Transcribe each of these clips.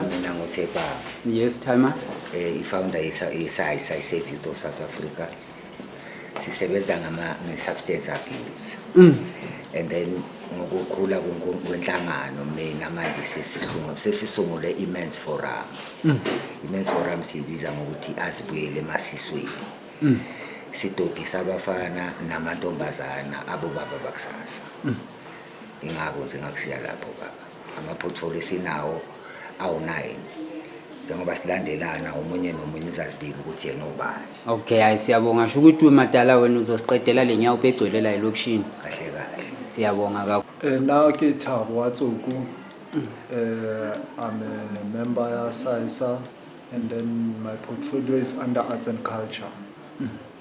Mina nguSepa. Yes, Timer. Eh, i-founder ye-SAISA, i-Safe Youth of South Africa. Sisebenza ngama substance abuse. Mm. And then ngokukhula kwenhlangano mina manje sesisungule sesisungule i-Men's Forum. Mm. I-Men's Forum siyibiza ngokuthi azibuyele emasisweni. Mm. Sidodisa abafana namantombazana abobaba bakusasa. Mm. ingako nje ngakushiya lapho baba ama-portfolio esinawo awu-nine njengoba silandelana omunye nomunye uzazibika ukuthi yena obani okay hayi siyabonga sho ukuthi umatala wena uzosiqedela le nyawo ubegcwele la elokishini kahle kahle siyabonga kakhulu Eh, na ke Thabo wa Tsoku. Eh, I'm a member ya SAISA and then my portfolio is under arts and culture.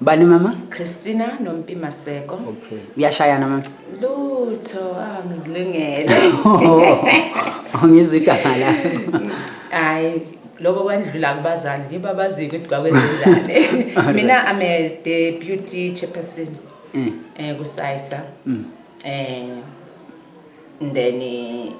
Bani mama? Christina noMpi Maseko. Okay. Uyashayana mama? Lutho, ah ngizilungele. Ngizwe igama la. Hayi lokho kwandlula kubazali yibo abaziko ukuthi kwakwenzenjani. Mina I'm a deputy chairperson. Mm. Eh kusayisa. Mm. Eh then eh,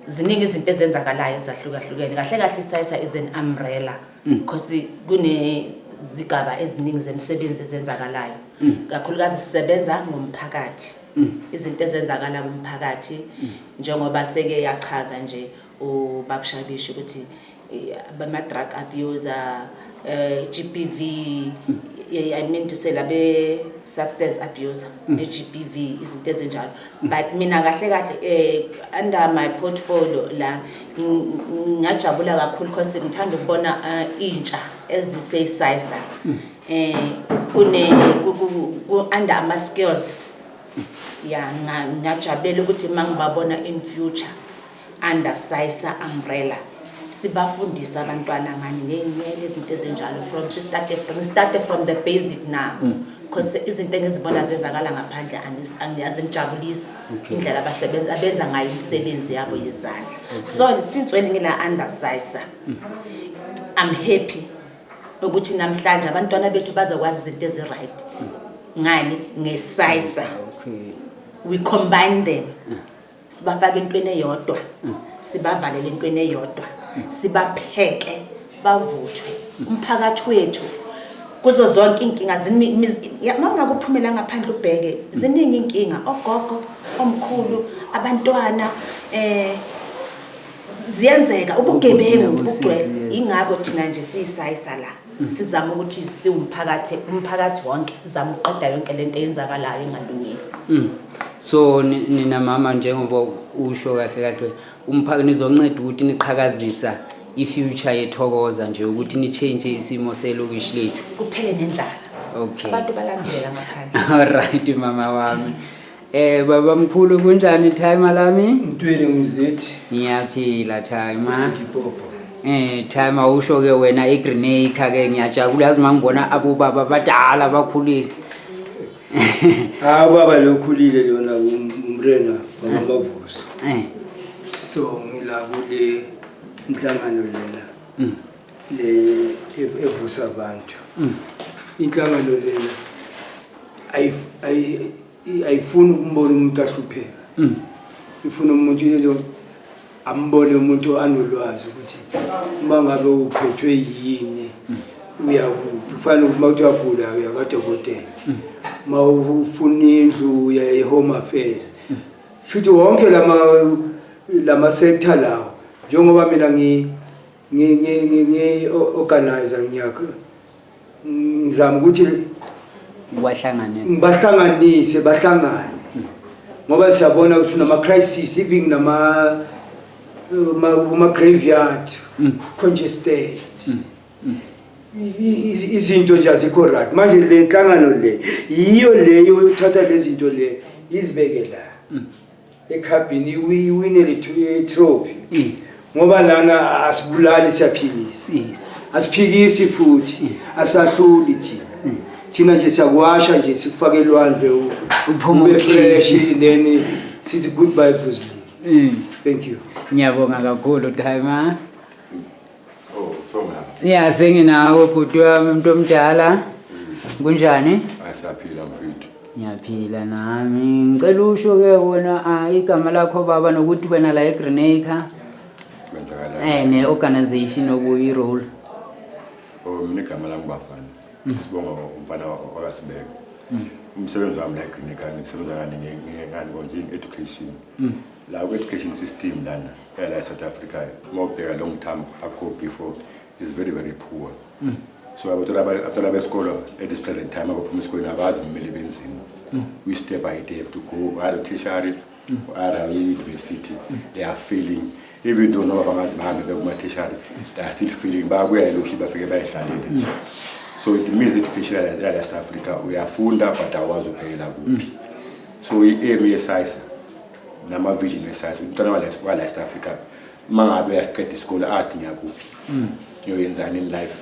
ziningi izinto ezenzakalayo ezahlukahlukene kahle kahle isayisa is an umbrella Mm. because kunezigaba eziningi zemisebenzi ezenzakalayo mm. kakhulukazi sisebenza ngomphakathi mm. izinto ezenzakala kumphakathi njengoba seke yachaza nje ubabushabishi ukuthi bama-drug abuser um eh, g p v eh, i mean to say labe-substance abuser ne-g p v izinto ezinjalo but mina kahle kahle eh under my portfolio la ngajabula kakhulu because ngithanda ukubona eh, intsha eziseyisayisa hmm. eh kune ku under ama skills ya ngajabulela ukuthi mangibabona in future under Saisa umbrella sibafundisa abantwana ngani ngeyinwele izinto ezinjalo from start from start from the basic now mm. because izinto engizibona zenzakala ngaphandle angiyazi ngijabulisi indlela abasebenza abenza ngayo imisebenzi yabo yezandla so since when ngila under Saisa mm. I'm happy ukuthi namhlanje abantwana bethu bazokwazi izinto ezi right mm. ngani ngesayisa we combine them mm. sibafake entweni eyodwa sibavalele entweni eyodwa sibapheke bavuthwe umphakathi wethu kuzo zonke inkinga mangabe uphumela ngaphandle ubheke ziningi inkinga ogogo omkhulu abantwana eh ziyenzeka ubugebengu bugcwele ingakho thina nje siyisayi sala sizama ukuthi siwumphakathi umphakathi wonke zama ukuqeda yonke lento eyenzakalayo engalungile mm. so nina mama njengoba usho kahle kahle umphakathi nizonceda ukuthi niqhakazisa i-future yethokoza nje ukuthi ni-change isimo selokishi lethu kuphele nendlala okay abantu balambela ngaphandle all right mama wami Eh baba mkhulu kunjani time lami? Ntwele ngizithi. Ngiyaphila time. Ngipopo. Eh time awusho ke wena i Green Acre ke ngiyajabula yazi mangibona abobaba badala bakhulile. Ah baba lokhulile lona um, umrena bamavuso. Eh. So ngila kule inhlangano lena. Mm. Le e-, evusa abantu. Mm. Inhlangano lena ayi I- ayifuni ukumbona umuntu ahlupheka Mm. ifuna umuntu yezo ambone umuntu anolwazi ukuthi uma ngabe uphethwe yini uyakuphi kufanele ukuthi uma kuthi uyagula uya kadokotela uma ufuna indlu uya e-home affairs shuthi wonke lama lama sector lawo njengoba mina ngi ngi ngi ngi organizer ngiyakho ngizama ukuthi ubahlanganise ngibahlanganise bahlangane ngoba siyabona sinama-crisis even nama kuma-graveyard mm. congested mm. Mm. izinto nje azikho right manje le nhlangano le yiyo leyo yothatha le zinto le izibeke la ekhabhini iwinele itrophy mm. ngoba lana asibulali siyaphikisa asiphikisi futhi mm. asahluli thina mm. thina nje siyakuwasha nje sikufake elwandle ube fresh then sithi goodbye brusley thank you ngiyabonga kakhulu time Oh, Thongama. Ya senginawe bhuti wami umuntu omdala. Kunjani? Asaphila mfethu. Ngiyaphila nami. Ngicela usho ke wena ah, igama lakho baba nokuthi wena la eGrenacre Kwenzakala. eh ne organization okuyi role. Oh, mina igama lami bafana. Sibonga umfana wakasibeka. Umsebenzi wami la eGreen Acre ngisebenza ngani ngani konje education. La ku education system lana. yala eSouth Africa uma ubheka long term akho before is very very poor mm. so abantwana besikolo at this present time abaphuma esikolweni abazi kumele benzima mm. we step by day to go either tertiary mm. or either university mm. they are failing even though noma bangazi bahambe bekumathishari they are still feeling bayabuya eloshi bafike bayihlalele nje so it means education yala West Africa uyafunda but awazi uphekela kuphi so i-aim yesayisa namavision esazi umntwana wala east africa uma ngabe uyasiqeda isikole athi ngiyakuphi mm. ngiyoyenzani in life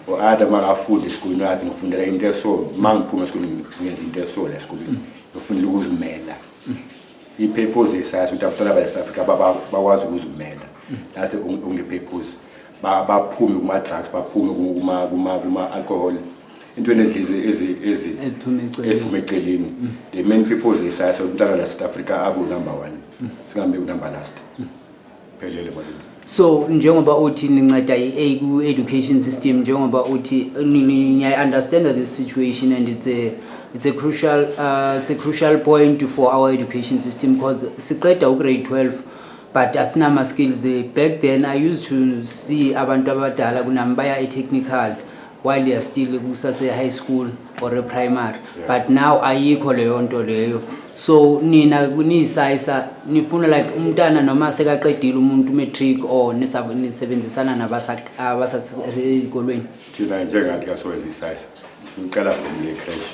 or mm. ada uma ngafunde esikoleni athi ngifundela into eso uma ngiphuma esikoleni ngenza into eso la esikoleni mm. ngifundela ukuzimela i-purpose esazi ukuthi abantwana bala east africa bakwazi ukuzimela lase unge-purpose baphume kuma-drugs baphume kuma-alcohol intweni eziphume eceleni mm. the main people zesayasa umntana la south africa abunumber one mm. singambe unumber last mm. phelele malini so njengoba uthi ninceda i-a ku-education system njengoba uthi niyayi-understanda this situation and it's a it's a crucial uh, it's a crucial point for our education system because siqeda ugrade 12 but asinama skills back then i used to see abantu abadala kunami baya e-technical while you're still kusase-high school or e-primary yeah. but now ayikho leyo nto leyo so nina niyisayisa nifuna like umntana noma sekaqedile umuntu matric or nisebenzisana nabasasey'kolweni nisa, thina njengathi kasowenza isayisa sifuna uqala from le crash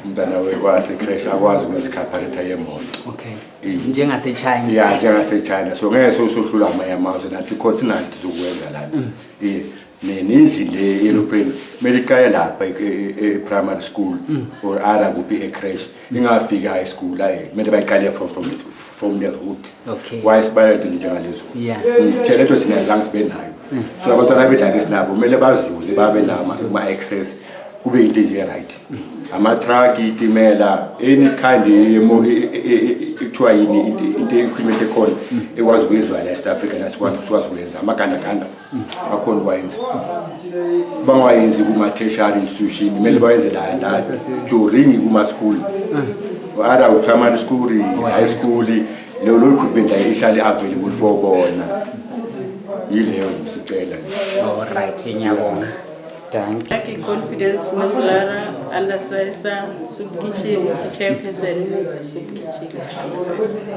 umntana wekwase crash akwazi ukuzikhaphalitha yemoto okay njengasechina ya njengasechina so ngeke sosohlula amanye amazwe nathi khona sinazi sizokwenza lana mm. iye neninzi le yelopreni kumele iqale lapha e-primary e-, e-, school mm. or ara kuphi ecrash ningafika high school hayi kumele bayiqale from from from the root okay why sibale into njengalezo yeah ngitshele into thina zange sibe nayo mm. so abantwana bedlala esinabo kumele bazuze babe nama ma access kube into nje right mm. ama truck itimela any kind yemo ekuthiwa yini into equipment ekhona mm. ekwazi ukuyizwa la eSouth Africa nasikwazi ukwenza amaganda ganda, ganda. bakhona ukwayenza bangawayenzi kuma-tertiary institution kumele bayenze la la during kuma-school ara primary school high school leyo lo equipment la ihlale available for bona yileyo sicela Alright, ngiyabonga. Danke. Lucky confidence maslara alasayisa subukishile chairperson subukishile alasayisa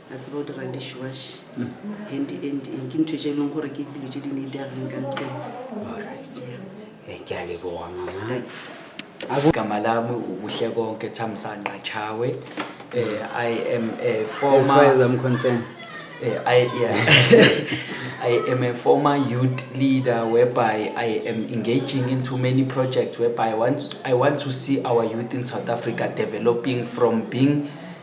a tseba o dira dishwash and and and ke ntho tse e leng gore ke dilo tse di ne di ageng ka ntleng Eh, ke a leboga mama igama lami ubuhle konke thamsanqa chawe eh, i am a as far as former i'm concerned Eh, I, yeah. I am a former youth leader whereby I am engaging into many projects whereby I want, I want to see our youth in South Africa developing from being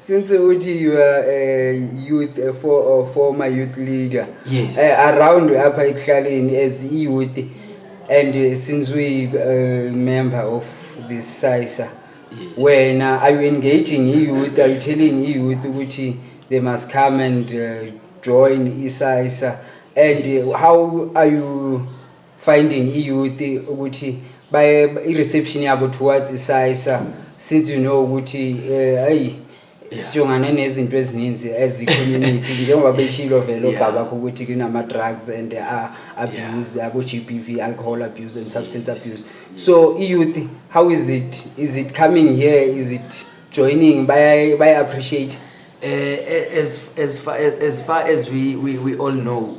since uthi you are a youth a for, a former youth leader Yes. eh, around apha ekuhlaleni as i-youth and eh, since we uh, member of this sisa Yes. wena are you engaging i-youth are you telling i-youth ukuthi they must come and uh, join isisa and eh, how are you finding i-youth ukuthi baye i-reception yabo towards isayisa since you know ukuthi eh, ayi sijongane nezinto ezininzi as i-community njengoba beshilo vele Yeah. obabakho ukuthi kunama-drugs and a- abuse abo-g b v alcohol abuse and substance Yes, abuse yes. so i-youth how is it is it coming here is it joining bayaye- baya-appreciate Eh, eh, as as far as far as we we we all know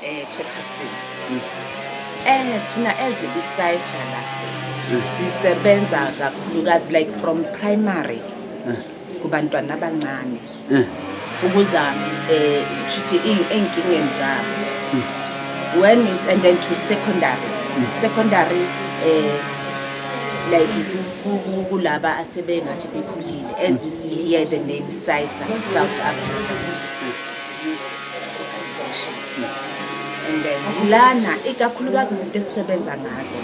Eh Chairperson. Mm. Eh thina as isayisa la mm. sisebenza kakhulukazi like from primary mm. kubantwana abancane. Mm. Ukuza eh shithi izinkingeni zabo. Mm. When you and then to secondary. Mm. Secondary eh like kulaba asebengathi bekhulile as you see here the name SISA South Africa lana ikakhulukazi izinto esisebenza ngazo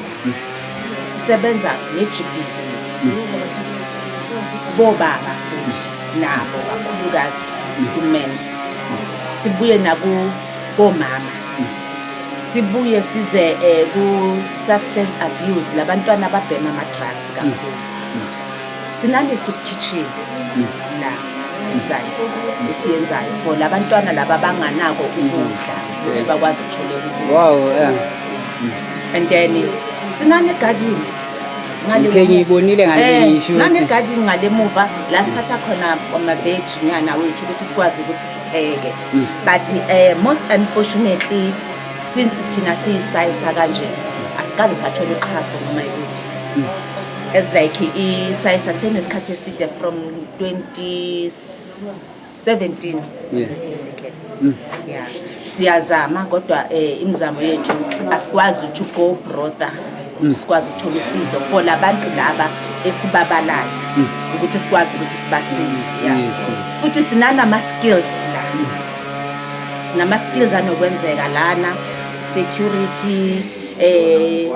sisebenza ne-gbv bobaba futhi nabo kakhulukazi ku-mens sibuye nakomama sibuye size um ku-substance abuse labantwana ababhema ama-drugs kakhulu sinalesi ukukhichini la size esiyenzayo for labantwana laba banganako ukudla ukuthi bakwazi ukuthola ukudla wow yeah. and then sinane garden ngike ngiyibonile ngalenisho eh, sinane garden ngalemuva la sithatha khona ama veg nyana wethu ukuthi sikwazi ukuthi sipheke mm. but uh, most unfortunately since sithina siyisayisa kanje asikaze sathola uxhaso noma yikuthi mm. as like isayi sasenesikhathi eside from 2017 yeah. Mm. yeah. siyazama kodwa eh, imizamo yethu asikwazi to go brother ukuthi mm. sikwazi ukuthola usizo for labantu laba esibabalayo mm. ukuthi sikwazi ukuthi sibasize yeah. yes. futhi sinanama skills la mm. sinama skills anokwenzeka lana security eh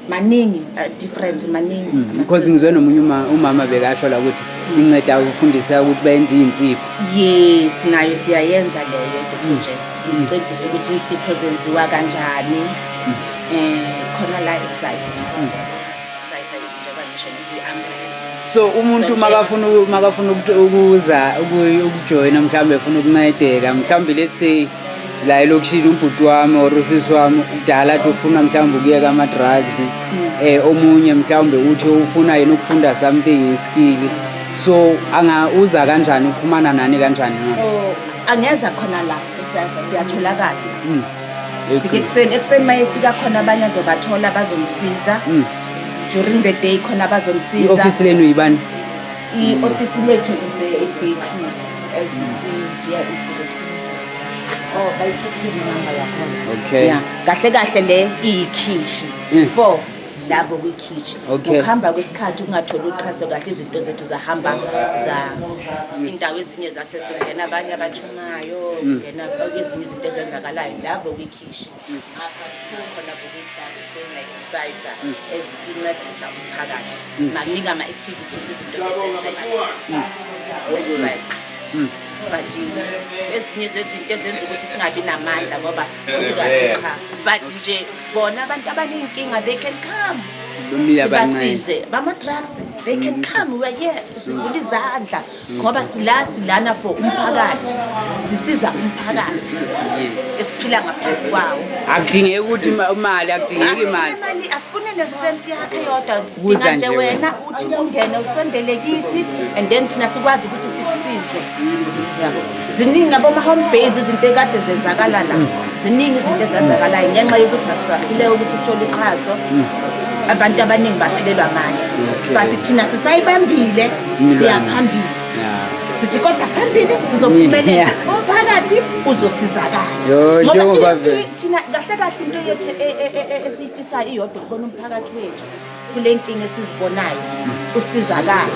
maningi uh, different maningi mm, because ngizwe nomunye uma umama bekasho la ukuthi inceda ukufundisa ukuthi benze insipho yes nayo siyayenza leyo ukuthi mm. nje ngicedisa ukuthi insipho zenziwa kanjani mm. eh khona la size size njengoba ngisho ngithi umbrella so umuntu makafuna makafuna ukuza ukujoyina mhlawumbe efuna ukuncedeka mhlawumbe let's say la elokishini ubhuti wami or usisi wami kudala athi ufuna mhlawumbe ukuyeka ama-drugs um omunye mhlawumbe uthi ufuna yena ukufunda something iskili so angauza kanjani ukuphumana nani kanjani na Oh, angeza khona la kusasa siyatholakala Mm. sifike ekuseni ekuseni uma efika khona abanye azobathola bazomsiza Mm. during the day khona bazomsiza i-ofisi lenu yibani I-ofisi lethu inze ebhethini as you see here is written. Oh, bayikhiphile inamba yakhona. Okay. Yeah. Kahle kahle le iyikhishi. Mm. Four lapho kwikhishi. Okay. Ukuhamba kwesikhathi ungatholi uxhaso kahle izinto zethu zahamba za indawo ezinye zasesingena abanye abatshumayo, ngena kwezinye izinto ezenzakalayo lapho kwikhishi. khona kukiklasi sengayisayisa ezisincedisa umphakathi makuningi ama-activities izinto ezenzeka websayisa but ezinye zezinto ezenza ukuthi singabi namandla ngoba sithokaxhaso but nje bona abantu abaneyinkinga they can come sibasize bama-drugs they can come weare sivula izandla ngoba sila silana for umphakathi sisiza umphakathi esiphila ngaphezu kwawo akudingeki ukuthi imali akudingeki imali asifune nesenti yakhe yodwa sidinga nje wena uthi ungene usondele kithi and then thina sikwazi ukuthi sikusize yabo ziningi aboma-home base izinto ekade zenzakala la mm. ziningi izinto ezenzakalayo ngenxa yokuthi asisahluleka ukuthi sithole uxhaso mm. abantu abaningi baphelelwa mali but thina sisayibambile siyaphambili sithi kodwa phambili sizophumelela umphakathi uzosizakala ngoba thina kahle kahle into yethu e, e, e, esiyifisayo iyodwa ukubona umphakathi wethu kule nkinga esizibonayo usizakala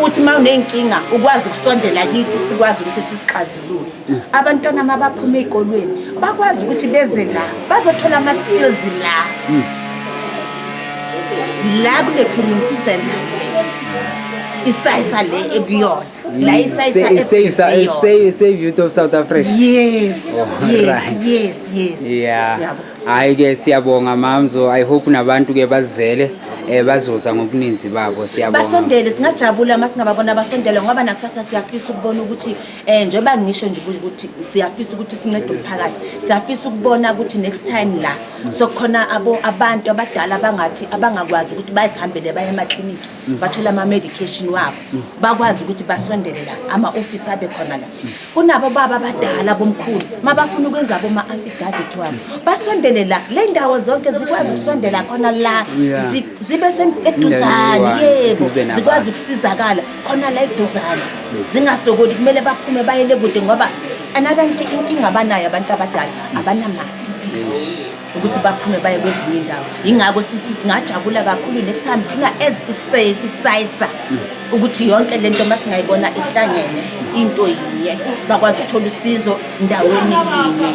uthi uma uney'nkinga ukwazi ukusondela kithi sikwazi ukuthi sisixazulule abantwana uma baphuma ey'kolweni bakwazi ukuthi beze la bazothola ama-skills la la kule community center isayisa le ekuyona la isayisa youth of south africa yes oh, yes yes yes yeah Hayi ke siyabonga mamzo i hope nabantu ke bazivele eh bazoza ngobuninzi babo siyabonga basondele singajabula uma singababona basondele ngoba nakusasa siyafisa ukubona ukuthi eh njengoba ngisho nje ukuthi siyafisa ukuthi sincede umphakathi siyafisa ukubona ukuthi next time la sokukhona abo abantu abadala abangathi abangakwazi ukuthi bazihambele baye emakliniki bathola ama-medication wabo bakwazi ukuthi basondele la ama-ofisi abe khona la kunabo baba abadala bomkhulu uma bafuna ukwenza boma-affidavit wabo basondele la le ndawo zonke zikwazi ukusondela khona la zi- zibe sen- eduzane yebo Eduze nabantu. zikwazi ukusizakala khona la eduzane zingasokoli kumele baphume bayele kude ngoba another nki- inkinga abanayo abantu abadala abanamali ukuthi baphume baye kwezinye indawo yingakho sithi singajabula kakhulu next time thina as isayisa ukuthi yonke lento masingayibona ihlangene into yinye bakwazi ukuthola usizo ndaweni yinye